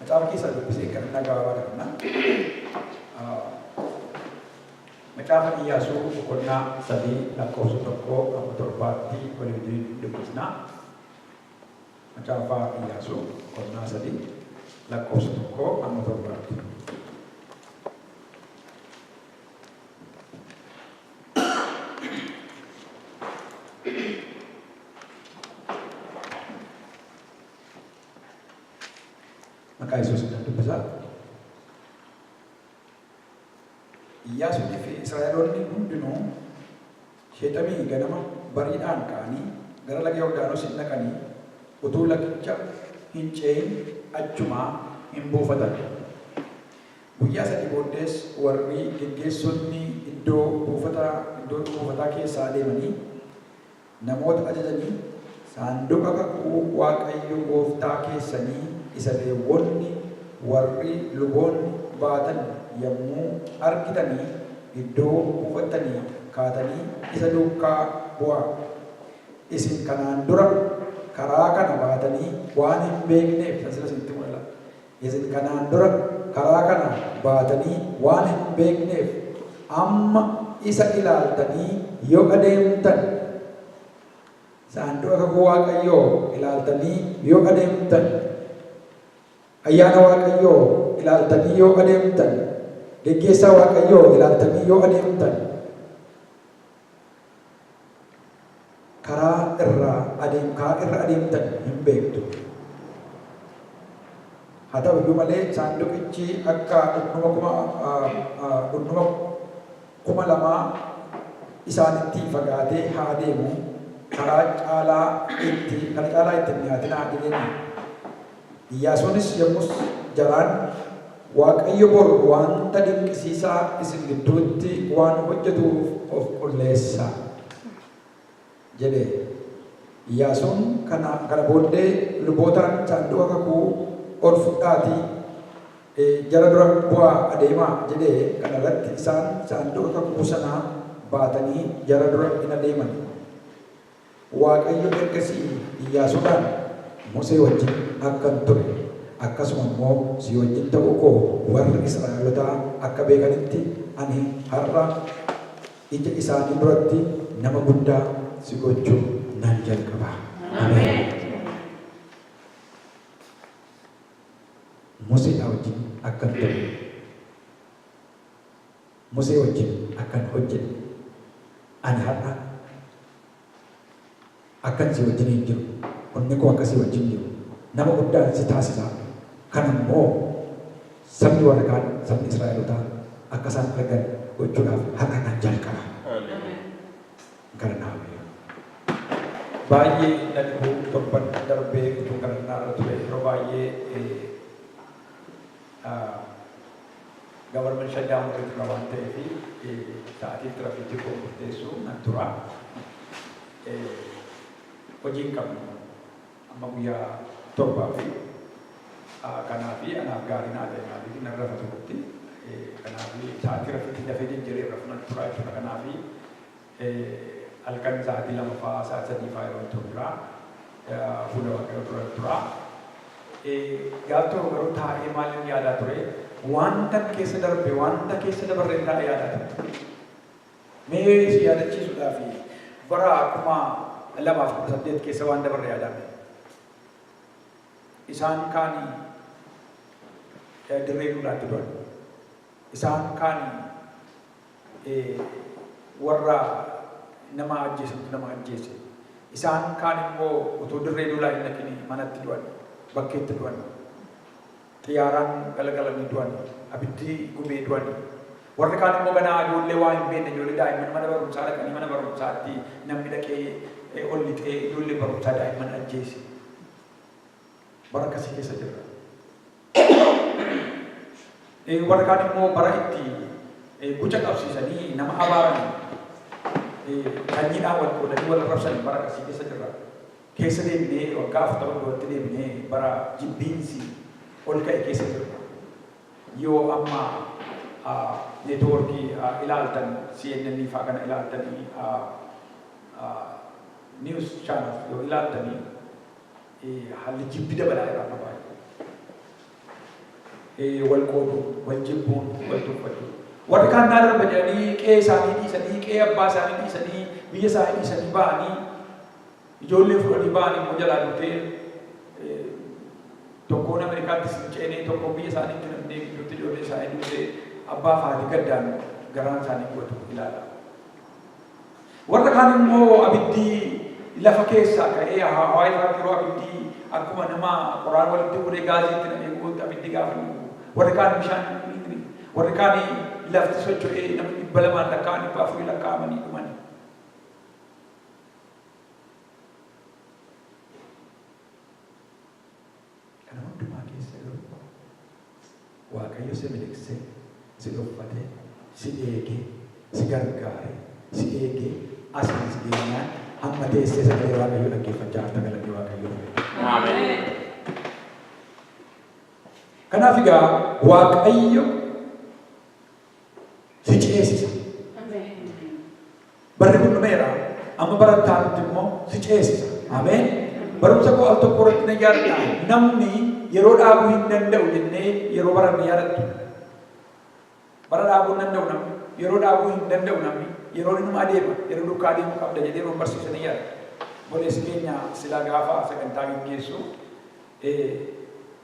Macaafa keessaa dubbisee kadhannaa gabaabaa kadhanna. Macaafa Iyyaasuu boqonnaa sadii lakkoofsa tokkoo amma torbaatti walii wajjin hin dubbisna. Macaafa Iyyaasuu boqonnaa sadii lakkoofsa tokkoo amma torbaatti. Maqaa Yesuusiin nan dubbisa. Iyyaasuunii fi Israa'eloonni hundinuu Sheexemii ganama bariidhaan ka'anii gara laga Yordaanos in dhaqanii utuu lagicha hin ce'in achuma in buufatan. Guyyaa sadii booddees warri geggeessonni iddoo buufata, iddoo buufataa keessaa deemanii, Namoota ajajanii, Saanduqa kakuu Waaqayyo gooftaa keessanii isa Leewwonni warri luboonni baatan yommuu argitanii iddoo buufattanii kaatanii isa duukaa bu'aa. Isin kanaan dura karaa kana baatanii waan hin beekneef, tan sila isinitti mul'atu. Isin kanaan dura karaa kana baatanii waan hin beekneef, amma isa ilaaltanii yoo adeemtan, Saanduqa Kakuu Waaqayyoo ilaaltanii yoo adeemtan, Ayyaana Waaqayyoo ilaaltanii yoo adeemtan, Geggeessaa Waaqayyoo ilaaltanii yoo adeemtan, Karaa irra adeem karaa irra adeemtan hin beektu. Haa ta'u iyyuu malee saanduqichi akka dhundhuma kuma dhundhuma kuma lamaa isaanitti fagaatee haa adeemu karaa caalaa itti kana caalaa itti hin dhiyaatinaa jedheenii. Iyyaasuunis yommus jaraan, Waaqayyo bor wanta dinqisiisaa isin gidduutti waan hojjetuuf of qulleessaa! jedhe. Iyyaasuun kana kana booddee lubootaan, Saanduqa kakuu ol fudhaatii jara dura bu'aa adeemaa! jedhee, kana irratti isaan saanduqa kakuu sanaa baatanii jara dura in adeeman. Waaqayyo ergasii Iyyaasuudhaan, Musee wajjin akkan ture, akkasuma immoo si wajjin ta'uu koo warri Israa'elotaa akka beekanitti ani har'a ija isaanii duratti nama guddaa si gochuu nan jalqaba. Ameen! Museedhaa wajjin akkan ture. Musee wajjin akkan hojjedhe, ani har'a akkan si wajjiniin jiru, humni koo akka si wajjin jiru, nama guddaan si taasisa, kana immoo sabni warra kaan, sabni Israa'elotaa akka isaan argan gochuudhaaf har'a nan jalqaba. Hin kadhannaa mee. Baay'ee na dhibuu torban darbee utuu kadhannaa irra ture yeroo baay'ee. Government shutdown irra tura waan ta'eef sa'atiin tirafiikii koo murteessu nan tura. Hojii hin qabnu amma guyyaa torbaa fi kanaa fi anaaf gaarii naa ta'e maaliif nan rafa turutti kanaa fi sa'atii rafiitti dafee jijjiiree rafunan tura jechuudha kanaa fi Halkan sa'aatii lama fa'aa, sa'aatii sadii fa'aa yeroon turu jira. Fuula Waaqayyoo duran tura. Gaaf tokko garuu taa'ee maalin yaadaa ture? Waantan keessa darbe, waanta keessa dabarreen taa'ee yaadaa ture. Mee si yaadachiisuudhaaf bara kuma lamaaf kudha saddeet keessa waan dabarre yaadaa ture. Isaan kaan dirree duulaatti du'an. Isaan kaan warra nama ajjeesutti nama ajjeese. Isaan kaan immoo utuu dirree lolaa hin dhaqini manatti du'an, bakkeetti du'an, xiyyaaraan galagalanii du'an, abiddi gubee du'an. Warri kaan immoo ganaa ijoollee waa hin beekne, ijoollee daa'imman mana barumsaa dhaqanii mana barumsaatti namni dhaqee ol lixee ijoollee barumsaa daa'imman ajjeese. Bara akkasii keessa jirra. Ee, warri kaan immoo bara itti ee, guca qabsiisanii nama abaaran ee, sanyiidhaan wal qoodanii wal arrabsan bara akkasii keessa jirra. Keessa deebinee waggaa afurtama duratti deebinee bara jibbiinsi ol ka'e keessa jirra. Yoo amma ah, neetwoorkii ah, ilaaltan CNN faa kana ilaaltanii ah, ah, news channels yoo ilaaltanii Haalli jibbi dabalaa irraa akka baay'atu. Wal qooduu, wal jibbuu, wal tuffachuu. Warri kaan naa darba jedhanii qe'ee isaanii dhiisanii, qe'ee abbaa isaanii dhiisanii, biyya isaanii dhiisanii ba'anii, ijoollee fuudhanii ba'anii immoo jalaa dhuftee tokkoon Ameerikaattis hin ceenee, tokkoon biyya isaanii hin filamnee gidduutti ijoollee isaanii duutee abbaa fi haati gaddaan garaan isaanii gubatu ilaala. Warra kaan immoo abiddi lafa keessaa ka'ee hawaa irraatti yeroo abiddi akkuma nama qoraan walitti guuree gaazii itti namee gubutti abiddi gaafa inni gubu. Warri kaan bishaan inni warri kaan lafti socho'ee namni dhibba lamaan lakkaa'an dhibba afurii lakkaa'amanii dhumani. Kana hundumaa keessa garuu Waaqayyo si miliqsee, si dhoffatee, si eegee, si gargaaree, si eegee asiin si geenyaan hamma teessee sagalee Waaqayyoo dhaggeeffachaa jirta galanni Waaqayyoof haa ta'u. Ameen. Kanaaf egaa Waaqayyo si ceesisa. Barri kun dhumeera. Amma bara itti aanutti immoo si ceesisa. Ameen. Barumsa koo al tokko irratti nan yaadadha. Namni yeroo dhaabuu hin danda'u jennee yeroo baranne yaadattu. Bara dhaabuu hin danda'u namni. Yeroo dhaabuu hin danda'u namni. Yeroo inuma adeema. Yeroo duukaa adeemuu qabda jedhee yeroo barsiisan ni yaadadha. Boleessi keenya silaa gaafa sagantaa geggeessu eh,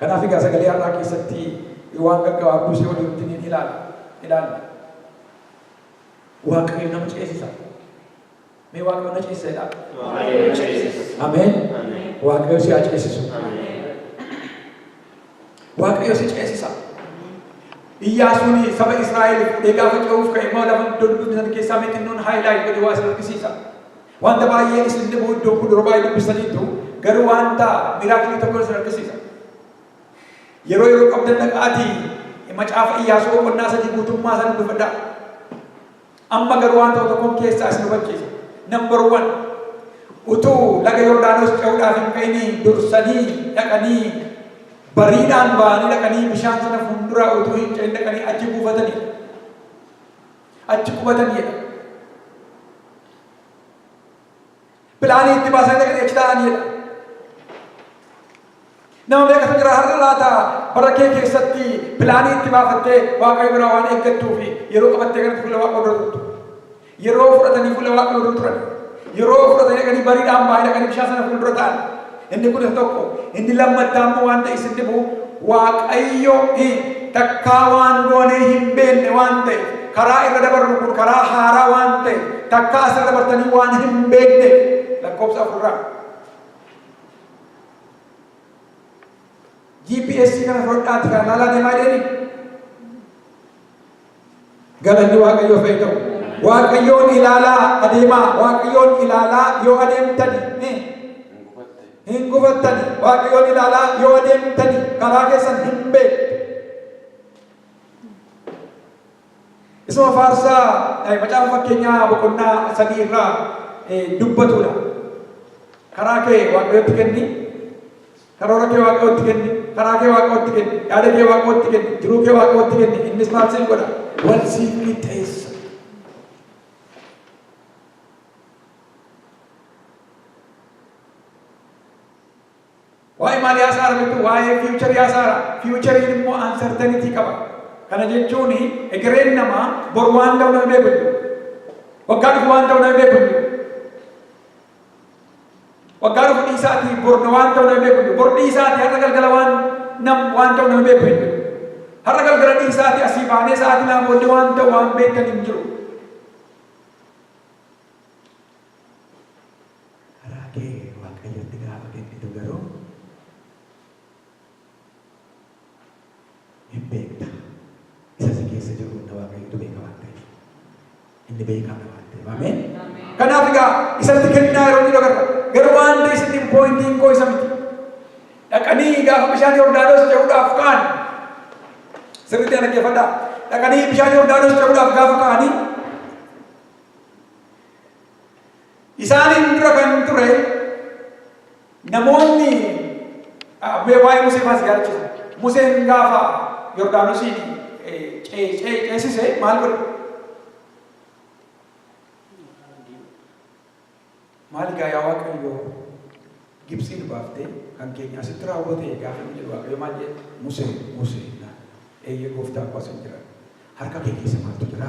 Kanaaf egaa sagalee har'aa keessatti waan gaggabaabduu si waliin wajjiniin ilaalla. ilaalla. Waaqayyo nama ceesisa. Mee Waaqayyo na ceesisa jedhaa. Waaqayyo na ceesisa. Ameen. Ameen. Waaqayyo si haa ceesisu. Waaqayyo si ceesisa. Iyyaasuun saba Israa'el fudhee gaafa ce'uuf ka'e immoo lafa doddoodaan keessaa mee xinnoon haayilaayit godhe waa isin argisiisa. Wanta baay'ee isin dhibu iddoon kun dura baay'ee dubbistaniittu garuu wanta miraakilii tokko isin argisiisa. Yeroo yeroo qabdan dhaqaatii macaafa Iyyaasuu boqonnaa sadii guutummaa isaa dubbifadhaa. Amma garuu waan ta'u tokkoon keessaa isin hubachiisa. Number one, utuu laga Yordaanos ce'uudhaaf hin ka'inii dursanii dhaqanii bariidhaan ba'anii dhaqanii bishaan sana fuulduraa utuu hin ce'in dhaqanii achi buufatanii. achi qubatan jedha. Pilaanii itti baasan dhaqanii achi taa'an jedha. Nama meeqatu jira har'a laata bara kee keessatti pilaanii itti baafattee waaqayyo biraa waan eeggattuu fi yeroo qabattee kanatti fuula waaqa dura turtu. Yeroo fudhatanii fuula waaqa dura turan. Yeroo fudhatanii dhaqanii bariidhaan ba'anii dhaqanii bishaan sana fuuldura ta'an. Inni kun isa tokko. Inni lammattaa immoo waan ta'e isin dhibu Waaqayyo takkaa waan goonee hin beekne waan ta'e karaa irra dabarru kun karaa haaraa waan ta'e takkaa asirra dabartanii waan hin beekne lakkoofsa afurraa. GPS kana fudhadhaati kan laalaa deemaa jedhanii Galanni Waaqayyoof haa ta'u. Waaqayyoon ilaalaa adeemaa. Waaqayyoon ilaalaa yoo adeemtani ni hin gufattani. Waaqayyoon ilaalaa yoo adeemtani karaa keessan hin beektu. Isuma faarsaa eh, macaafa fakkeenyaa boqonnaa sadii irraa eh, dubbatudha. Karaa kee Waaqayyotti kenni. Karoora kee Waaqayyootti kenni. Karaa kee Waaqayyootti kenni. Yaada kee Waaqayyootti kenni. Jiruu kee Waaqayyootti kenni. Innis maal siif godha? Wal siif qixxeessa. Waa'ee maalii haasa'aa jirtu? Waa'ee fiiwucharii haasa'aa. Fiiwuchariin immoo ansertanitii qaba. Kana jechuun egereen namaa bor waan ta'u nama beeku hin jiru. Waggaa dhufu waan ta'u nama beeku hin jiru. Waggaa dhufu dhiisaatii bor na waan ta'u nama beeku hin jiru. Bor dhiisaatii har'a galgala waan nam waan ta'u nama beeku hin jiru. Har'a galgala dhiisaatii asii baanee sa'aatii lama booddee waan ta'u waan beekan hin jiru. Karaa kee Waaqayyotti gaafa kennitu garuu hin beekta. Isa si keessa jiru hunda Waaqayyotu beeka waan ta'eef. Inni beekaadha waan ta'eef. Ameen. Kanaaf egaa isatti kennaa yeroo jedhu agarra. Garuu waan ta'e isatti hin poointiin koo isa miti. Dhaqanii gaafa bishaan Yordaanos ce'uudhaaf ka'an sirriitti ana dhaggeeffadhaa. Dhaqanii bishaan Yordaanos ce'uudhaaf gaafa ka'anii Isaaniin dura kan ture namoonni mee waa'ee Musee faas yaadachisa. Museen gaafa Yordaanosiin ceesise maal godhe? Maal gaa yaa Waaqayyo Gibsii nu baaftee kan keenya asitti raawwate gaafa inni jedhu Waaqayyo maal jedhe? Musee Musee eeyyee gooftaa koo asin jira harka kee keessa maaltu jira?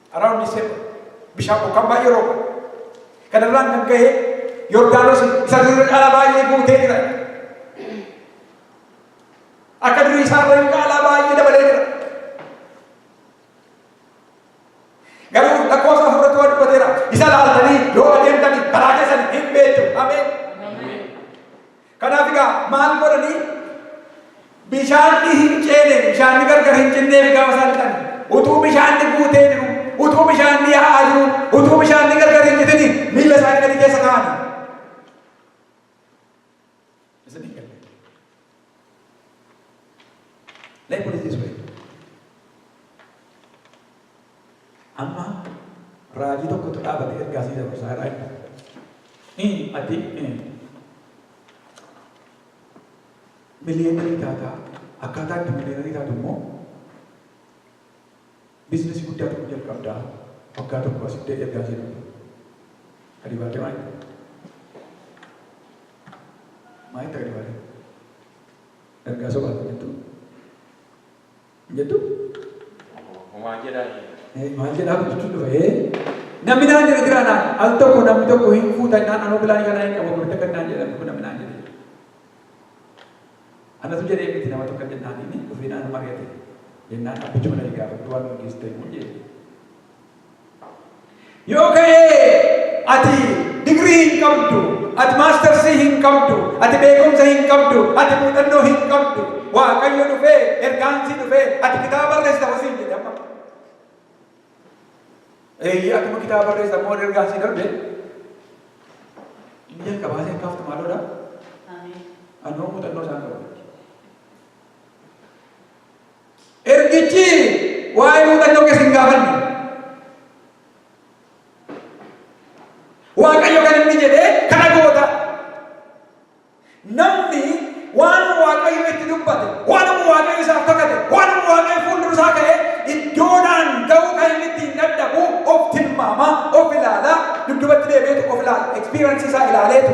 Around December bishaan bokkaan baay'ee rooba. Kanarraan kan ka'e Yordaanos isa durii caalaa baay'ee guutee jira. Akka durii isaa irra caalaa baay'ee dabalee jira. Garuu lakkoofsa afurratti waan dubbateera. Isa laaltanii yoo adeemtanii karaa keessan hin beektu. Ameen. Kanaaf egaa maal godhanii bishaanni hin ceene bishaanni gargar hin cinneef gaafa isaan dhiqan utuu bishaanni guutee jiru utuu bishaanni yaa'aa jiru utuu bishaanni gargar hin citini miila isaanii gadi keessa kaa'ani. Isn't it? Let me put it this way. Amma raajii tokkotu dhaabate ergaa sii dabarsaa irraa hin Ii ati miliyeenarii taataa akkaataa itti miliyeenarii taatu immoo biizinasii guddaa tokko jalqabdaa waggaa tokko asitti ergaa sii darba. Gadi baatee maal? Maal itti gadi baatee? Ergaa sobaa jechuun Hin jettuu? Homaa jedhaa ee. Ee maal jedhaa guddichuun dhufa ee. Namni naan jedhe jira naan al tokko namni tokko hin fuuta naan anoo bilaanii kanaa hin qabu gurte kan naan jedhan kun namni naan jedhe. Anatu jedhee miti nama tokko jennaan inni dhufee naan mari'ate jennaan abbichuma na gaafadhu waan gaggeessitu immoo jedhe. Yoo ka'ee ati digrii hin qabdu, ati maastarsii hin qabdu, ati beekumsa hin qabdu, ati muuxannoo hin qabdu, waaqayyo dhufee ergaansii dhufee ati kitaaba barreessita hosiin jedhe amma. Eeyyee akkuma kitaaba barreessa immoo ergaansii darbe inni jalqabaa seen kaaftu maaloodha? Anoo muuxannoo isaan qabu. Ergichi waa'ee muuxannoo kees hin gaafanne. Waaqayyo kan inni jedhe kana goota. Namni waan Waaqayyo itti dubbate, waanuma Waaqayyo isaaf kakate, waanuma Waaqayyo fuuldura isaa ka'e iddoodhaan ga'uu kan inni ittiin dadhabu of tilmaama, of ilaala, dudubatti deebi'eetu of ilaala, ekspiraansii isaa ilaaleetu.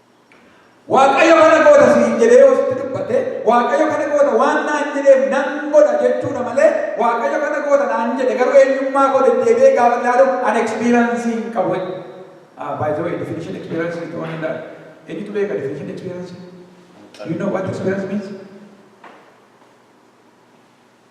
Waaqayyo kana goota siin jedhee yoo sitti dubbate, Waaqayyo kana goota waan naan jedheef nan godha jechuudha malee Waaqayyo kana goota naan jedhe garuu eenyummaa koo deddeebi'ee gaafa ilaalu an experience hin qabu. Ah, by the way, definition experience is one in that. Eenyutu beeka definition experience? Do you know what experience means?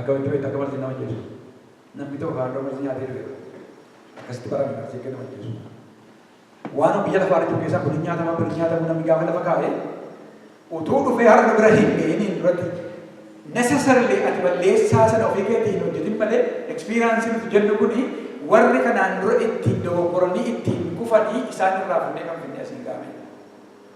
Akkamitti beekta akka marziin nama ajjeesu? Namni tokko kanaan dura marzii nyaatee du'eera. Akkasitti barame marzii akka nama ajjeesu. Waanuma biyya lafaa irra jiru keessaa kun hin nyaatama kun hin nyaatamu namni gaafa lafa kaa'e utuu dhufee har'a nu bira hin ga'iniin duratti necessarily ati balleessaa sana ofii keetii hin hojjetin malee experience nuti jennu kuni warri kanaan dura ittiin dogoggoranii ittiin kufanii isaan irraa fuudhee kan finne asiin gaafii.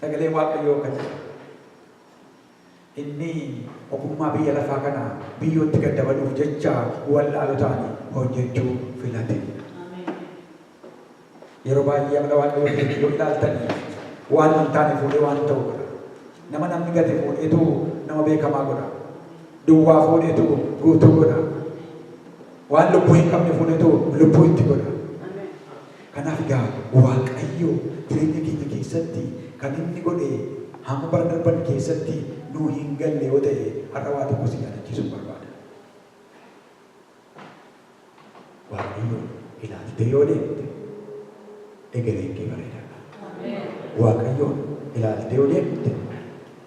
Sagalee Waaqayyoo akka jedhu inni ogummaa biyya lafaa kana biyyootti gad dabaluuf jecha wallaalotaan hojjechuu filate. Yeroo baay'ee amala Waaqayyoo keessatti yoo ilaaltan waan hin taane fuudhee waan ta'u godha. Nama namni gate fuudheetu nama beekamaa godha. Duwwaa fuudheetu guutuu godha. Waan lubbuu hin qabne fuudheetu lubbuu itti godha. Kanaaf egaa Waaqayyo jireenya keenya keessatti kan inni godhe hamma bara darban keessatti nuu hin galle yoo ta'e har'a waa tokko si yaadachiisuun barbaada. Waaqayyoon ilaaltee yoo deemte egereen kee bareedaadha. Waaqayyoon ilaaltee yoo deemte.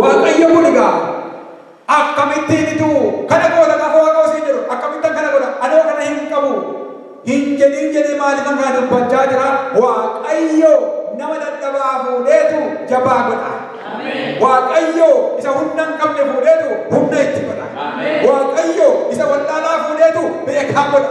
Waaqayyo kun egaa akkamittiin ituu kana goota gaafa Waaqayyo siin jedhu akkamittan kana godha anoo kana hin qabu hin jedhin jedhee maaliifan kana dubbachaa jira Waaqayyo nama dadhabaa fuudheetu jabaa godha. Waaqayyo isa humna hin qabne fuudheetu humna itti godha. Waaqayyo isa wallaalaa fuudheetu beekaa godha.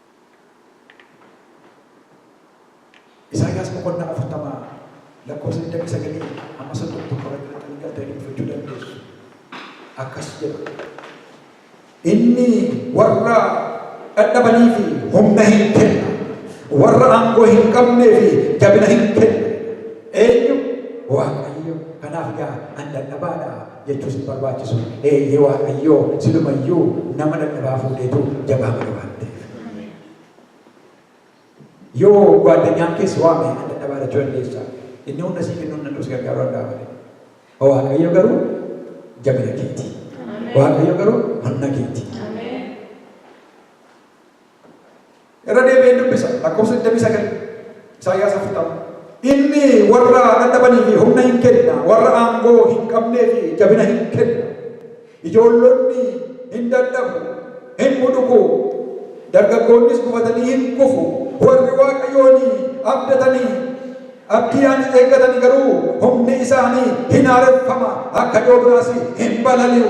Isaayaas boqonnaa 40 lakkoofsa 29-31 irratti maxxanni galtanii dubbifachuu dandeessu. Akkas jedha. Inni warra dhadhabanii fi humna hin kenna. Warra aangoo hin qabnee fi jabina hin kenna. Eenyu? Waaqayyo. Kanaaf gaa an dadhabaadha. jechuus hin barbaachisu. Eeyyee Waaqayyoo silumayyuu nama dadhabaa fuudheetu jabaa godhe waan ta'eef. Yoo guwaadanyaan keessa waame na dadhabaa jechuu dandeessa. Inni hunda sii kennuu hin danda'u si gargaaruu danda'a malee. Waaqayyo garuu jabina keeti. Waaqayyo garuu manna keeti. Irra deebi'een dubbisa. Lakkoofsa 29. Isaayyaas 40. Inni warra dadhabanii fi humna hin kenna, warra aangoo hin qabnee fi jabina hin kenna. Ijoollonni hin dadhabu, hin buduku, dargaggoonnis gufatanii hin kufu. Warri Waaqayyoon abdatanii abdii ani eeggatan garuu humni isaanii hin haareffama, akka yoo biraas hin balali'u.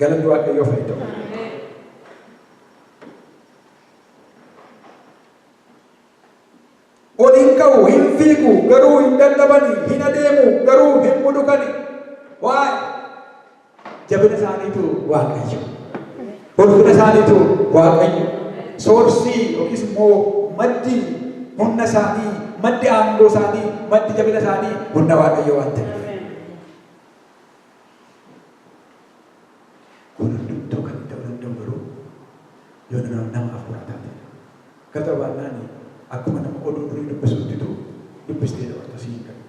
Galanni Waaqayyoof haa ta'u. Ol hin ka'u, hin fiigu, garuu hin dadhabani, hin adeemu, garuu hin mudukani. Waa'ee jabina isaaniitu Waaqayyo. Ulfina isaaniitu Waaqayyo. Soorsii yookiis immoo maddi humna isaanii, maddi aangoo isaanii, maddi jabina isaanii humna Waaqayyo waan ta'eef. Kun hundumtuu kan ta'uu danda'u garuu yoo nama nama hafuuraa taatedha. Gara ta'uu baannaan akkuma nama oduu durii dubbisuuttitu dubbistee dabarta si hin galu.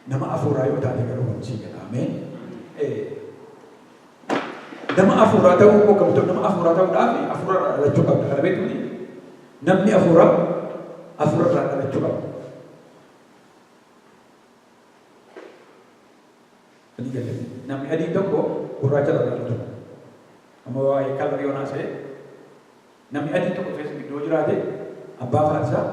Nama hafuuraa yoo taate garuu kun sii gala. Ameen. Ee. Nama hafuuraa ta'uu koo gamtoon nama hafuuraa ta'uudhaaf hafuura irraa dhalachuu qabda. Kana beektuuni namni hafuuraa hafuura irraa dhalachuu qaba. Adii galee. Namni adiin tokko gurraacha irraa kan hojjetamu. Amma waa'ee kalarii yoon haasa'e namni adiin tokko keessa gidduu jiraate abbaa faarsaa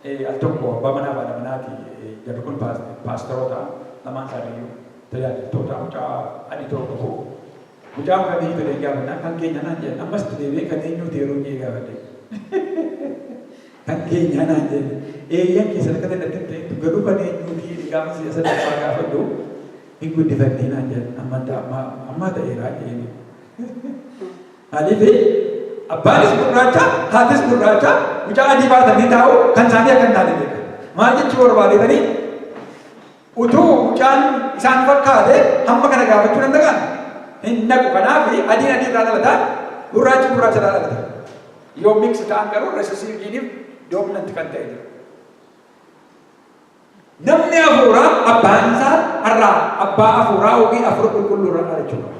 eh, al tokko abbaa manaa fi haadha manaati eh, jarri kun paas- paastaroota lamaan isaaniiyyuu tajaajiltoota mucaa adii tokko qabu. Mucaan kan eenyu ta'e gaafannaan kan keenya naan jedhan ammas deebi'ee kan eenyu ta'e yeroo inni gaafadhe. Kan keenyaa naan jedhe. Eeyyan kee sadarka takka ittin teettu garuu kan eenyuuti jedhi qaama si'a sadaffaa gaafadhu hin guddifannee naan jedhan. Amma ta amma ammaa ta'eeraa jedheen. Maaliifi abbaanis gurraacha haatis gurraacha mucaa adii baatanii taa'u kan isaanii akka hin taane beeka. Maal jechuu barbaadeetanii? Utuu mucaan isaan fakkaatee hamma kana gaafachuu danda'an? Hin naqu. Kanaaf adiin adii irraa dhalata, gurraachi gurraacha irraa dhalata. Yoo mix ta'an garuu recessive gene dominant kan ta'e jira. Namni hafuuraa abbaan isaa har'aa abbaa hafuuraa ofii hafuura qulqulluu irraa dhalachuu qaba.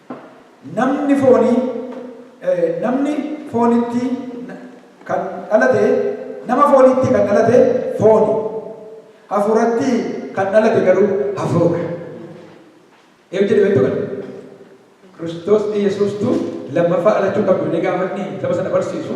Namni foonii, namni foonitti kan dhalate, nama fooniitti kan dhalate fooni, hafuuratti kan dhalate garuu hafuura. Eeb jedhe beektu kana. Kiristoos Iyyasuustu lammaffaa dhalachuu qabdu jedhee gaafa inni saba sana barsiisu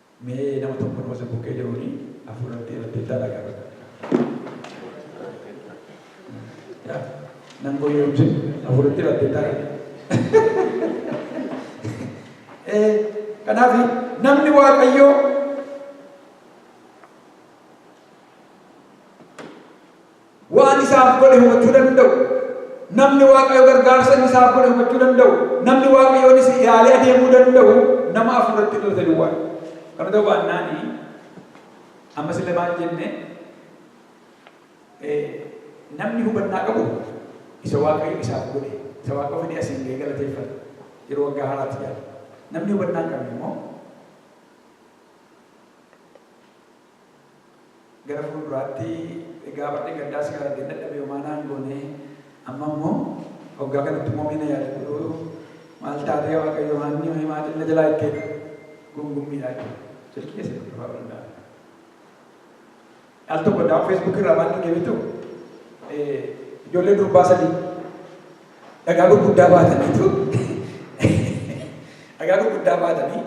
Mee nama tokko nama isin bukkee jiruuni hafuura itti irratti dalaga. Yaa, Nan goyyomse hafuura itti irratti dalaga. Eh, Kanaaf namni waaqayyoo Waan isaaf godhe hubachuu danda'u. Namni Waaqayyo gargaarsa inni isaaf godhe hubachuu danda'u, namni Waaqayyoonis ilaalee adeemuu danda'u nama hafuuratti dhalate duwwaadha. Kana ta'uu baannaan ammas illee maal jenne namni hubannaa qabu isa Waaqayyo isaaf godhe, isa Waaqa fedhii asiin ga'ee galateeffata. Yeroo waggaa haaraatti jaala. Namni hubannaa hin qabne immoo gara fuulduraatti egaa barri gaddaa si argeen dadhabe homaa naan goone amma immoo hoggaa kanatti immoo mee na yaadadhu maal taatee waaqayyo haanni ho'i maatiin na jalaa itti eega gungummiidha jechuudha silkii keessa jirtu ta'uu danda'a. Al tokko daawwan feesbuukii irraa maal dhagee beektu ijoollee durbaa sadii dhagaa gurguddaa baataniitu dhagaa gurguddaa baatanii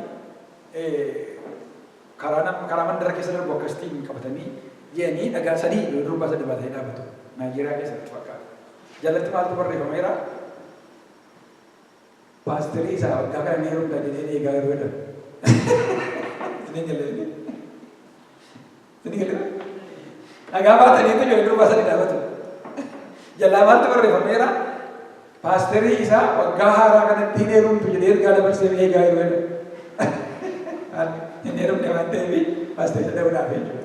Karaa nam karaa mandara keessa darbu akkasitiin qabatanii ji'anii dhagaa sadii yoo durbaa sadii baatanii dhaabatu. Naayijeeriyaa keessa natti fakkaata. Jalatti maaltu barreeffameera? Paasterii isaa waggaa kana ni heerumta jedhee eegaa yeroo jedhan. Isin hin galle inni. Isin hin galle. Dhagaa baatanii itti ijoollee durbaa sadii dhaabatu. Jalaa maaltu barreeffameera? Paasterii isaa waggaa haaraa kanatti hin heerumtu jedhee ergaa dabarsee ni eegaa yeroo jedhu. Hin heerumne waan ta'eef paasterii dadhabuudhaaf jechuudha.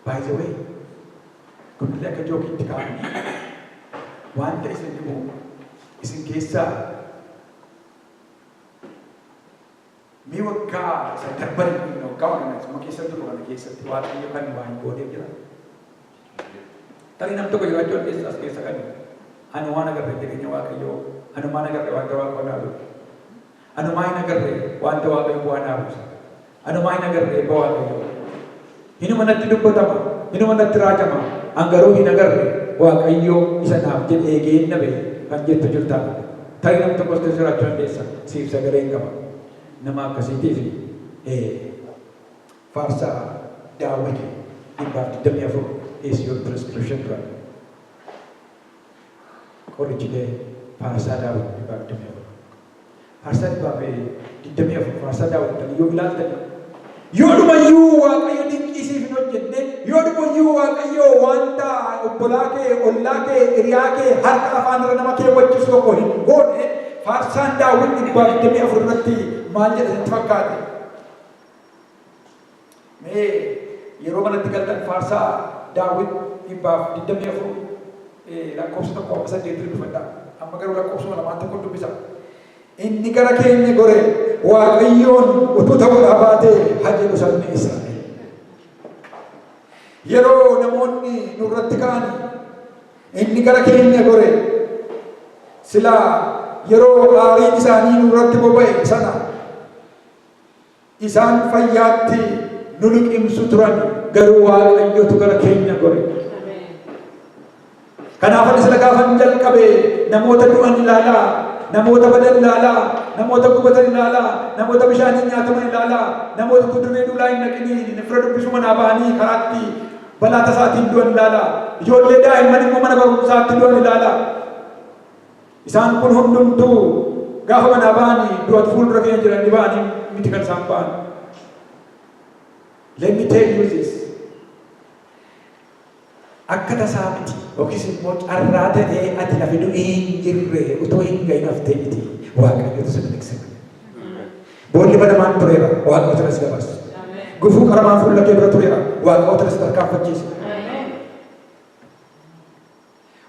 By the way, kun illee akka jookiitti kaa'ame. Wanta isin dhibu isin keessaa Mee waggaa isa darbani kun waggaama kana isuma keessa jirru kana keessatti Waaqayyo kan nu waa hin gooneef jira? Hin jiru. Tarii nam tokko jiraachuu dandeessa as keessa kan anumaan agarre jireenya Waaqayyoo, anumaan agarre wanta Waaqoo naa godhe, anumaa hin agarre wanta Waaqayyo bu'aa naa buuse, anumaa hin agarre eebba Waaqayyoo. Hinuma natti dubbatama, hinuma natti raajama, an garuu hin agarre, Waaqayyo isa naaf jedhe eegeen na ba'e kan jettu jirtaa laata? Tarii nam tokkos keessa jiraachuu dandeessa, siif sagaleen qaba. Nama akkasiitiif ee. Faarsaa Daawwiti 124 Is Your Prescription Drug? Qori jidee faarsaa Daawit dhibbaa 24 Faarsaa dhibbaa fi 24 faarsaa Daawit kan yoo ilaaltanii Yoodumayyuu Waaqayyo dinqii siif hin hojjenne, yoodumayyuu Waaqayyo wanta obbolaa kee, ollaa kee, hiriyaa kee harka afaan irra nama keewwachiisu tokko hin goone. Faarsaan Daawit 124 irratti maal jedha sitti fakkaate? Mee yeroo manatti galtan Faarsaa Daawit 124 lakkoofsa 1 amma 8 dubbifadhaa. Amma garuu lakkoofsuma lamaan tokko dubbisa. Inni gara keenya goree Waaqayyoon utuu ta'uudhaa baatee haa jedhu sabni Israa'el. Yeroo namoonni nurratti ka'an inni gara keenya gore silaa yeroo aariin isaanii nurratti boba'e sana Isaan fayyaatti nu liqimsu turan, garuu Waaqayyotu gara keenya gore. Kanaaf ani sila gaafan jalqabe namoota du'an ilaalaa, namoota badan ilaalaa, namoota gubatan ilaalaa, namoota bishaaniin nyaataman ilaalaa, namoota utuu dirree duulaa hin dhaqiniin fira dubbisuu manaa bahanii karaatti balaa tasaatiin du'an ilaalaa, ijoollee daa'imman immoo mana barumsaatti du'an ilaalaa. Isaan kun hundumtuu gaafa manaa ba'ani du'atu fuuldura keenya jiran ni ba'ani miti kan isaan ba'an. Let me tell you this. Akka tasaa miti yookiis immoo carraa ta'ee ati lafi du'ii hin jirre utuu hin gahin haftee miti. Waaqayyotu si miliqse. Boolli banamaan tureera waaqayyotu na si dabarse. Gufuu qaramaan fuula kee dura tureera waaqayyotu na si tarkaanfachiise.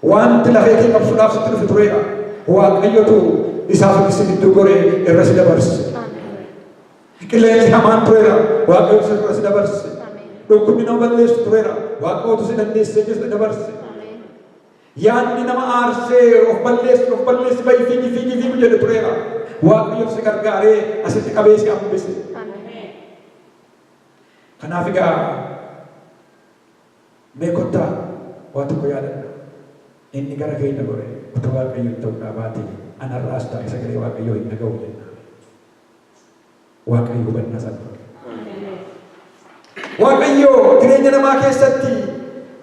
Waanti lafee kee qabsuudhaaf sitti dhufe tureera. Waaqayyotu isaa fi si gidduu goree irra si dabarse. Qilleensi hamaan tureera. Waaqayyotu si irra si dabarse. Dhukkubni nama balleessu tureera. Waaqayyotu si dandeessee keessa si dabarse. Yaadni nama aarsee of balleessi of balleessi bayi fiigi fiigi fiigu jedhe tureera. Waaqayyotu si gargaaree asitti qabee si hambise. Kanaaf egaa Mee kottaa waa tokko yaadadhaa, Inni gara keenya goree, Utuu Waaqayyo hin ta'u dhaa baatee, ana irraas taa'e sagalee Waaqayyoo hin dhaga'u jennaa ree? Waaqayyo hubannaa isaa nuuf haa kennu. Waaqayyo jireenya namaa keessatti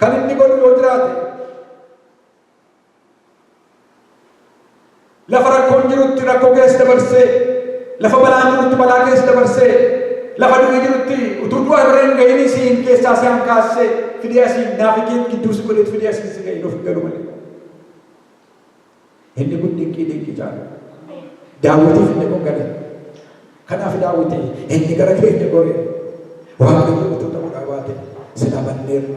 kan inni godhu yoo jiraate, Lafa rakkoon jirutti rakkoo keessa dabarsee, lafa balaan jirutti balaa keessa dabarsee, lafa du'i jirutti utuu du'a bira hin gahinii siin keessaa si hankaassee fidee asiin naafi kee gidduu si godheet fidee asiin si ga'e nuuf hin galu malee. Inni kun dinqii dinqii caalu. Daawwitiif inni kun gala. Kanaaf Daawiti, Inni gara keenya gore, Waaqayyo utuu ta'uu dhaa baatee silaa banneerra,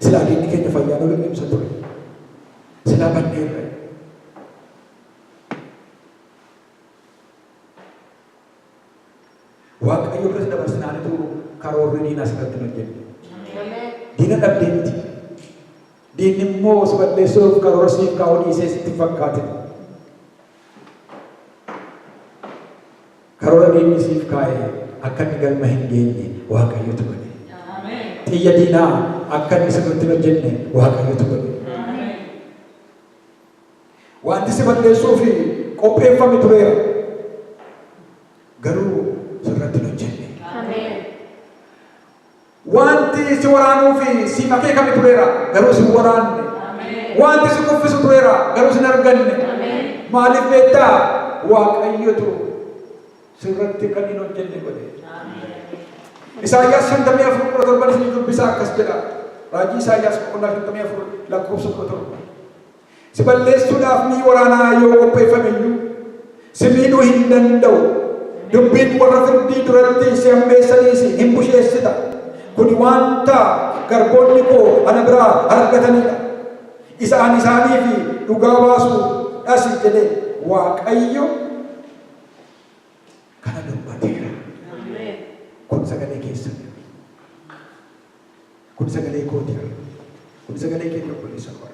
silaa diinni keenya fayyaan ol hin dhimsa ture, silaa banneerra. Waaqayyo biras dabarsinaan utuu karoorri diinaa sirratti hin hojjenne. Diina dhabdee miti. Diinni immoo si balleessuuf karoora siif kaa'uu dhiisee sitti hin fakkaatin. Karoora diinni siif kaa'e akka inni galma hin geenye Waaqayyotu godhe. Xiyya diinaa akka inni sirriitti hin hojjenne Waaqayyotu godhe. Wanti si balleessuuf qopheeffame tureera. Garuu sirratti hin hojjenne. Wanti si waraanuu fi siif akeekame tureera, garuu si hin waraanne. Wanti si kuffisu tureera, garuu si hin arganne. Maaliif beektaa? Waaqayyotu sirratti kan hin hojjenne godhe. Isaayyaas 54:17 isin dubbisaa akkas jedha. Raajii Isaayyaas boqonnaa 54 lakkoofsa 17. Si balleessuudhaaf mi'i waraanaa yoo qopheeffame iyyuu, si miidhuu hin danda'u. Dubbiin warra firdii duratti si hammeessaniis hin busheessita. Kun wanta garboonni koo ana biraa argatanii dha, isa ani isaaniif dhugaa baasu dhas jedhe Waaqayyo kana dubbateera. Kun sagalee keessan. Kun sagalee kooti bar. Kun sagalee keenya obboleessa koo.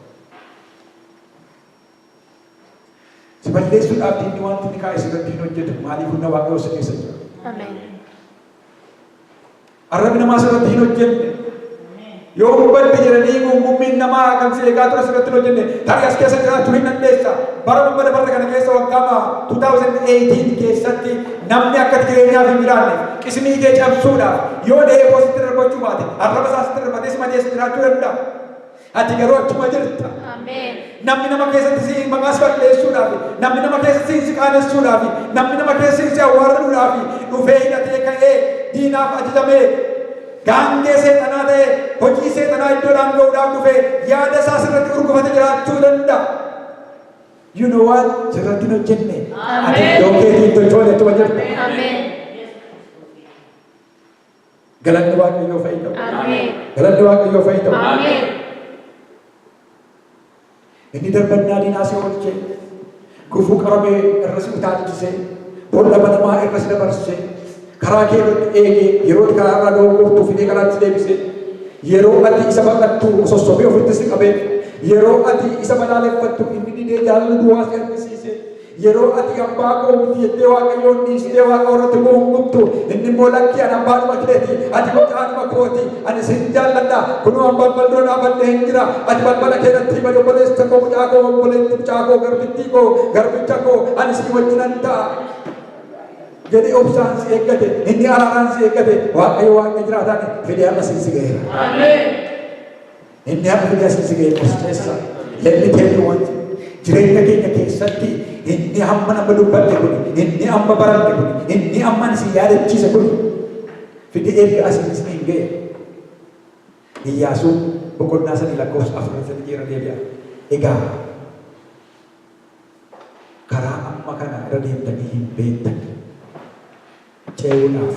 Si balleessuudhaaf diinni wanti inni kaa'e sirratti hin hojjetu. Maaliif humna waaqayyoo si keessa jira? Ameen. Arrabni namaa sirratti hin hojjenne. Yoo hubadde jedhanii gungummiin namaa kan si eegaa ture sirratti hin hojjenne. Tarii as keessa jiraatu hin dandeessa. Bara dhuma dabarre kana keessa waggaa baha 2018 keessatti namni akka jireenyaaf hin jiraanne qismii kee cabsuudhaaf Yoo dheeboo sitti irra gochuu baate, arraba isaa sitti irra batee si madeessu jiraachuu danda'a. Ati garuu achuma jirta. Namni nama keessatti si maqaa si balleessuudhaafi, namni nama keessatti si qaanessuudhaafi, namni nama keessatti si awwaaluudhaafi dhufee hidhatee ka'ee diinaaf ajajamee, gaangee seexanaa ta'ee hojii seexanaa iddoodhaan ga'uudhaaf dhufee yaada isaa sirratti gurgufate jiraachuu danda'a. You know what? Sirratti hin hojjenne. Ati iddoo keetii hin tochoone achuma jirta. Galanni Waaqayyoo fa'i ta'u. Ameen. Galanni Waaqayyoo fa'i ta'u. Ameen. Inni darbannaa diinaa si oolchee, gufuu qabamee irra si utaalchisee, boolla banamaa irra si dabarsee, karaa kee irratti eegee, yeroo itti karaa irraa dogoggortuu fidee karaatti si deebisee, yeroo ati isa baqattu sossobee ofitti si qabee, yeroo ati isa balaaleffattu inni didee jaalala duwwaa si argisiisee, Yeroo ati abbaa koo miti jettee Waaqayyoon dhiistee Waaqa warratti koo hin gubtu. Inni immoo lakkii an abbaadhuma keeti. Ati mucaadhuma kooti. Ani sin jaalladha. Kunoo an balbal dura dhaabadhee hin jira. Ati balbala kee natti bani obboleessa koo mucaa koo obboleetti mucaa koo garbittii koo garbicha koo ani sii wajjinan ta'a. jedhee obsaan si eeggate inni araaraan si eeggate waaqayyo waaqa jiraataani fedhee amma siin si ga'eera. Inni harki gasiisi ga'e murteessa. Let me tell you one thing. Jireenya keenya keessatti inni amma nama dubbatte kun, inni amma baranne kun, inni amma isin yaadachiise kun fide erga asiin isin hin ga'e. Iyyaasuun boqonnaa sadii lakkoofsa afur sadi jeera deebi'a. Egaa karaa amma kana irra deemtanii hin beektan. Ce'uudhaaf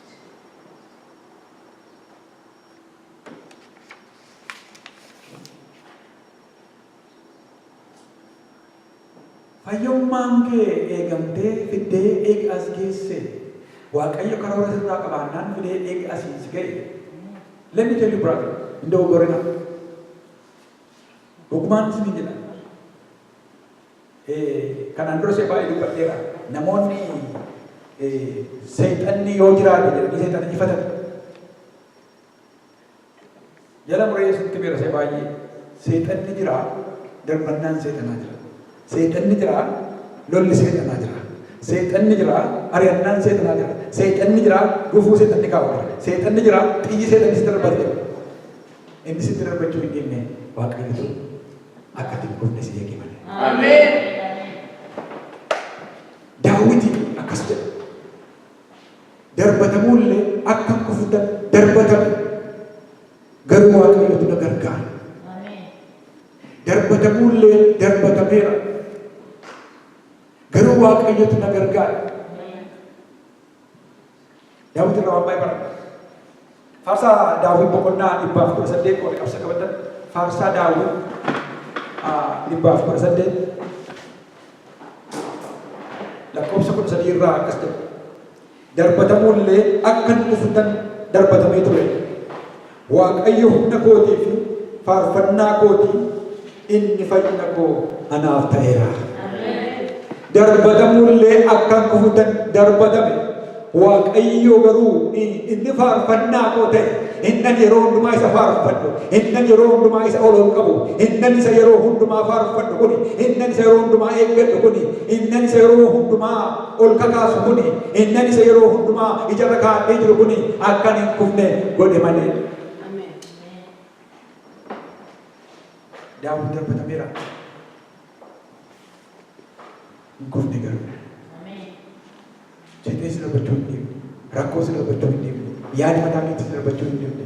Fayyummaan kee eegamtee fiddee eega as geessee. Waaqayyo karoora sirraa qabaannaan fidee eega asiin si ga'ee. Let me tell you brother, hin dogoggorinaa. Dhugumaan isiniin jedha. Kanaan dura si'a baay'ee dubbadheera. Namoonni Seexanni yoo jiraate jedhanii Seexana jifatan. Jala muree isinitti himeera si'a baay'ee. Seexanni jira, darbannaan Seexanaa jira. Seexanni jira, lolli Seexanaa jira. Seexanni jira, ari'annaan Seexanaa jira. Seexanni jira, gufuu Seexanni kaa'u jira. Seexanni jira, xiyyi Seexanni si darbatu jira. Inni sitti darbachuu hin dhiifne Waaqayyo ture. akka ati hin kufne si eege malee. Ameen. Daawwiti akkas jedha. Darbatamuullee akka hin kufne darbatamu. Garuu Waaqayyotu na gargaara. Darbatamuullee darbatameera. Garuu Waaqayyotu na gargaara. Daawit irraa waan baay'ee baranna. Faarsaa Daawit boqonnaa dhibbaa fi kudha saddeet warri qabsa qabatan faarsaa Daawit dhibbaa fi kudha saddeet lakkoofsa kudha sadii irraa akkas ta'e. Darbatamuullee akka hin dhuftan darbatamee ture. Waaqayyo humna kootii fi faarfannaa kooti, inni fayyina koo anaaf ta'eera. Darbatamuu illee akkan dhufu tan darbatame. Waaqayyo garuu in- inni faarfannaa koo ta'e, innan yeroo hundumaa isa faarfadhu, innan yeroo hundumaa isa ol ol qabu, innan isa yeroo hundumaa faarfadhu kuni, innan isa yeroo hundumaa eeggadhu kuni, innan isa yeroo hundumaa ol kakaasu kuni, innan isa yeroo hundumaa ija irra kaa'adhee jiru kuni akka ani hin kufne godhe malee. Daawwit darbatameera. Hin kufne garuu. Jedhee si darbachuu hin deemne. Rakkoo si darbachuu hin deemne. Yaada mataa keetti si darbachuu hin deemne.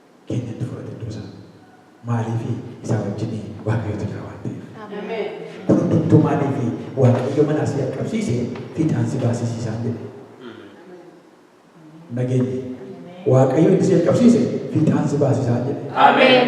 keenyatti fudhate iddoo isaa. Maaliifi isaa wajjin Waaqayyotu jira waan ta'eef. Kun hundumtuu maaliifi Waaqayyo manaa si dhaqqabsiise fiixaan si baasisiisaan jedhe. Nageenyi. Waaqayyo inni si dhaqqabsiise fiixaan si baasisaan jedhe. Ameen.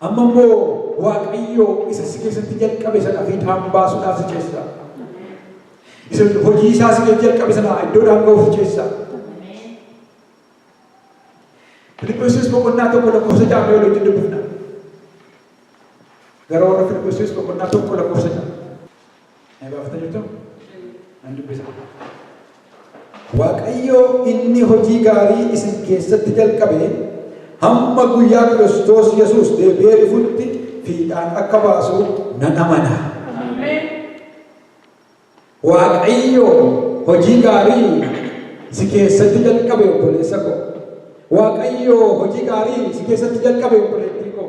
Amma immoo Waaqayyo isa si keessatti jalqabe sana fiixaan baasuudhaaf si ceessa. Isa hojii isaa si keessatti jalqabe sana iddoodhaan ga'uuf si ceessa. Filiphisiis boqonnaa tokko lakkoofsa ja'a mee walitti dubbifna. Gara warra Filiphisiis boqonnaa tokko lakkoofsa ja'a. Na gaafata jirtu? Nan dubbisa. Waaqayyo inni hojii gaarii isin keessatti jalqabe hamma guyyaa Kiristoos Yesuus deebi'ee dhufutti fiixaan akka baasu nan amana. Waaqayyo hojii gaarii si keessatti jalqabe obboleessa koo. Waaqayyo hojii gaarii si keessatti jalqabe obboleettii koo.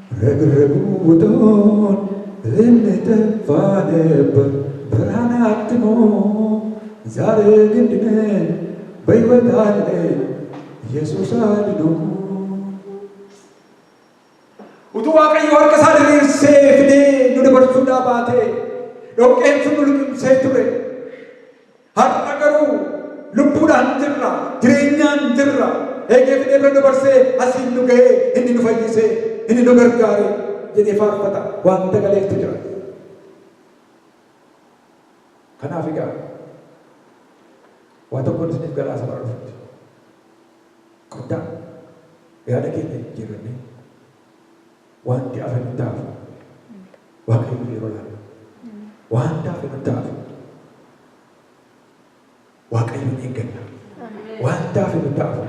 Ragurraguu utuun inni teffaan eebba baraa naatti himuu zaaree giddinee bahiwataallee Yesuus haa dinuu. Utuu Waaqayyo harka isaa diriirsee fidee nu dabarsuudhaa baatee dhoqqeen sun nu liqimsee ture. Har'a garuu lubbuudhaan jirra, jireenyaan jirra. Eegee fidee bira nu barsee, asiin nu gahee, inni nu fayyisee, inni nu gargaaree jedhee faarfata. Waan dagaleeftu jira. Kanaaf egaa waa tokkoon isiniif galaasa bara dhufutti. Kottaa yaada keenya jijjiirrannee. Waanti hafe nutti haa hafu. Waaqayyoof yeroo laanna. Waanti hafe nutti haa hafu. Waaqayyoon eegganna. Waanti hafe nutti haa hafu.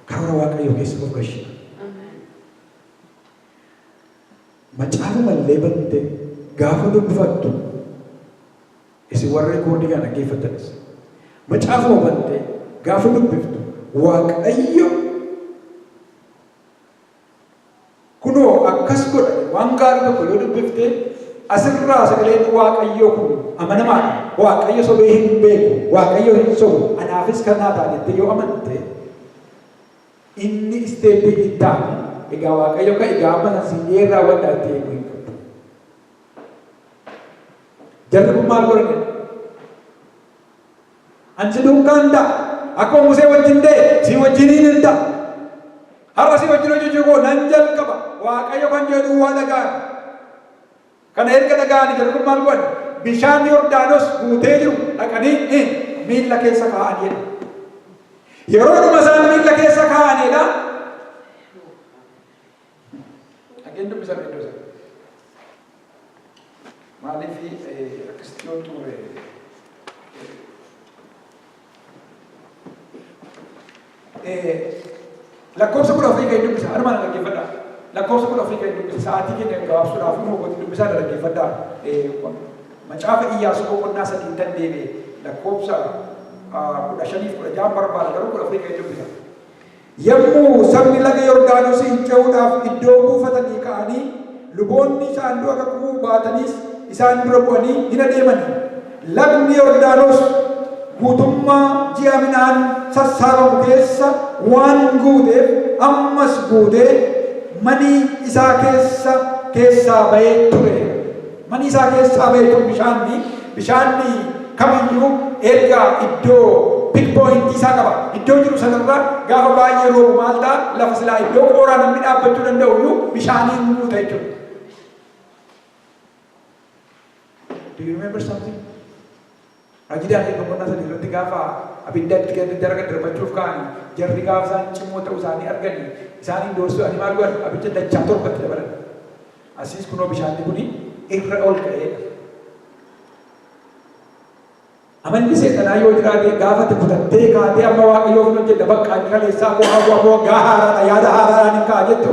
Karoora Waaqayyoo keessa nuuf gashina. Macaafa mallee bante gaafa dubbifattu isin warra rikoordii kana dhaggeeffattanis macaafuma bante gaafa dubbiftu Waaqayyo Kunoo akkas godha, waan gaarii tokko yoo dubbifte, as irraa sagaleen Waaqayyoo kun amanamaa dha, Waaqayyo sobee hin beeku, Waaqayyo hin sobu, anaafis kan naa ta'a jettee yoo amante, inni isteeppii itti aanu, egaa Waaqayyo ka'i egaa amma san siif dhiheen raawwadhaa jettee eeguu hin qabdu. Jarri kun maal godhan? An si duukaa in ta'a, akkuma Musee wajjin ta'e sii wajjiniin in ta'a. Har'a sii wajjin hojjechuu koo nan jalqaba. Waaqayyo kan jedhu duwwaa dhaga'an. Kana erga dhaga'anii jarri kun maal godhan? Bishaan Yordaanos guutee jiru dhaqanii miilla keessa kaa'an jedha. Yeroodhuma isaan miilla keessa kaa'anidha. Dhageen dubbisa iddoo sana. Maaliif akkasitti yoo xumure lakkoofsa kudha ofii gadi dubbisa harmaan dhaggeeffadha. Lakkoofsa kudha ofii gadi dubbisa sa'aatii keenya gabaabsuudhaaf immoo gooti dubbisaa dhaggeeffadha. Macaafa Iyyaasuu boqonnaa sadii tan deebi'e lakkoofsa kudha shaniif kudha ja'a barbaada garuu kudha ofii gadi dubbisa. Yommuu sabni laga Yordaanosiin ce'uudhaaf iddoo buufatanii ka'anii, luboonni saanduqa kakuu baataniis isaan dura bu'anii in adeemani. Lagni Yordaanos guutummaa ji'a midhaan sassaabamu keessa waan guuteef, ammas guutee manii isaa keessa keessaa ba'ee ture. Mani isaa keessaa beeytuun bishaanni, bishaanni kam iyyuu erga iddoo, pin point, isaa qaba. Iddoo jiru sana irra gaafa baay'ee roobu maal ta'a? Lafa silaa iddoo qooraa namni dhaabbachuu danda'u iyyuu bishaaniin guuta jechuudha. Do you remember something? Raajii Daani'el boqonnaa 3 irratti gaafa abidda itti gad daddaragan darbachuuf ka'ani jarri gaafa isaan cimoo ta'u isaanii argani isaaniin doorsi'ani maal godhan abidda dachaa torba itti dabalan. Asiis kunoo bishaanni kuni irra ol ka'ee dha. Amalli seexanaa yoo jiraate gaafa itti kutattee kaatee amma waaqayyoof hin hojjedha bakka inni kaleessaa koo hawwa koo gaa haaraadha yaada haaraadhaan hin ka'a jettu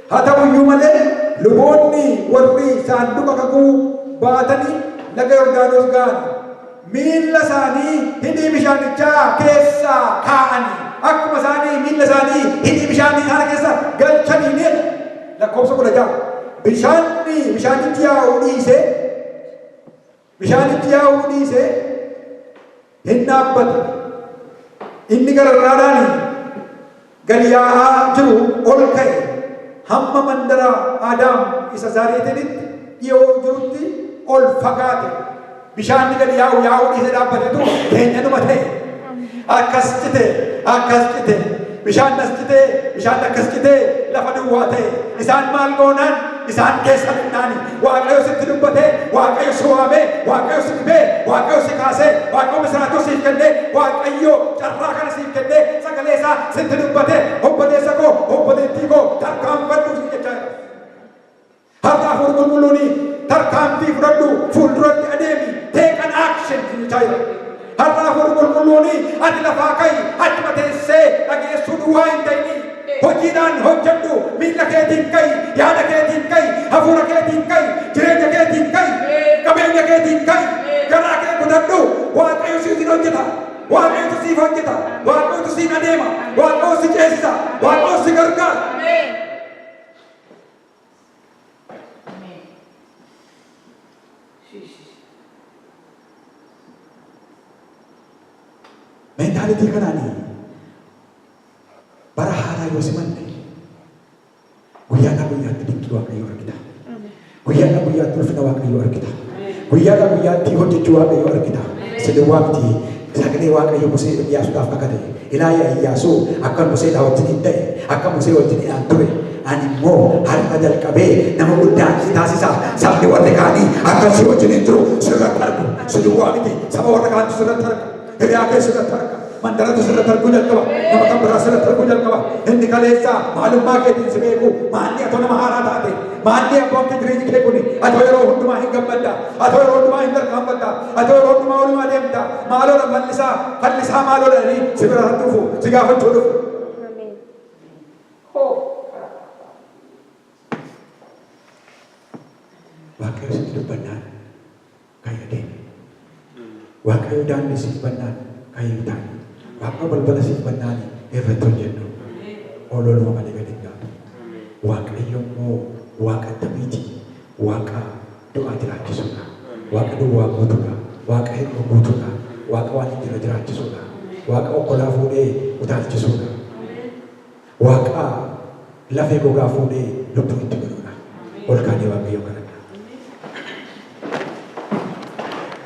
Haa ta'u iyyuu malee, luboonni warri saanduqa kakuu baatanii laga Yordaanos ga'an, miilla isaanii hidhii bishaanichaa keessa kaa'anii, akkuma isaan miilla isaanii hidhii bishaanii sana keessa galchaniinii dha. Lakkoofsa 16, Bishaanni, bishaanichi yaa'uu dhiisee, Bishaanichi yaa'uu dhiisee hin dhaabbatu. Inni gararraadhaan gad yaa'aa jiru ol ka'e hamma mandara Adaam isa Zaareetinitti dhiyoo jirutti ol fagaate. Bishaanni gad yaa'u yaa'uu dhiisee dhaabbatetu keenyanuma ta'e. akkas cite akkas cite bishaan as cite bishaan akkas cite lafa duwwaa ta'e isaan maal goonaan isaan keessa midhaani waaqayyo sitti dubbate waaqayyo si waame waaqayyo si dhibee waaqayyo si kaase waaqayyo misiraachoo siif kenne waaqayyo carraa kana siif kenne sagalee isaa sitti dubbate obboleessa koo obboleettii koo tarkaanfadhuuf si jechaa jira. Harka Hafuurri Qulqulluuni Tarkaanfii fudhadhu, fuulduratti adeemi, take an action siin jechaa jira. Harka Hafuurri Qulqulluuni ati lafaa ka'i, achuma teessee dhageessuu duwwaa hin ta'ini. Hojiidhaan hojjedhu, miilla keetiin ka'i, yaada keetiin ka'i, hafuura keetiin ka'i, jireenya keetiin ka'i, qabeenya keetiin ka'i, garaa kee kutadhu, Waaqayyo siitiin hojjeta, Waaqayyotu siif hojjeta, Waaqayyotu siin adeema, Waaqayyo si ceesisa, Waaqayyo si gargaara. Mentaalitii kanaanii bara haaraa yoo simanne guyyaadhaa guyyaatti dinqii waaqayyoo argita. Guyyaadhaa guyyaatti ulfina waaqayyoo argita. Guyyaadhaa guyyaatti hojjechuu Waaqayyoo argita. Siliwaakti Sagalee Waaqayyo Musee Iyyaasuudhaaf kakate. Ilaa yaa Iyyaasuu, akkan Museedhaa wajjiniin ta'e, akka Musee wajjiniidhaan ture, ani immoo har'a jalqabee nama guddaa si taasisa. Sabni warri kaanii akka si wajjiniin jiru sirratti argu. Si duwwaa miti, saba warra kaantu sirratti arga. Hiriyaa kee sirratti arga. Mandaratu sirratti arguu jalqaba. Nama kan biraa sirratti arguu jalqaba. Inni kaleessaa maalummaa keetiin si beeku. Maalli atoo nama haaraa taate. Maalli abboon kee jireenyi kee kuni. Atoo yeroo hundumaa hin gammadda. Atoo yeroo hundumaa hin tarkaanfatta. Atoo yeroo hundumaa walumaa deemta. Maaloodha fallisaa. Fallisaa maaloodha jedhanii si bira dhufu. Si gaafachuu dhufu. Ameen. Hoo. Waaqayyo sitti dubbannaan Kaya demi. Waaqayyo daandii siif bannaan kayii ta'i. Waaqayyo balbala siif bannaani irratti hojjedhu. Ololuma malee gadi hin gaatu. Waaqayyo immoo waaqa attamiiti? Waaqa du'aa jiraachisuudha. Waaqa duwwaa guutuudha. Waaqa hir'uu guutuudha. Waaqa waan hin jirre jiraachisuudha. Waaqa okkolaa fuudhee utaalchisuudha. Waaqaa lafee gogaa fuudhee lubbuu itti godhuudha. Ol kaanee Waaqayyoon kadhannaa.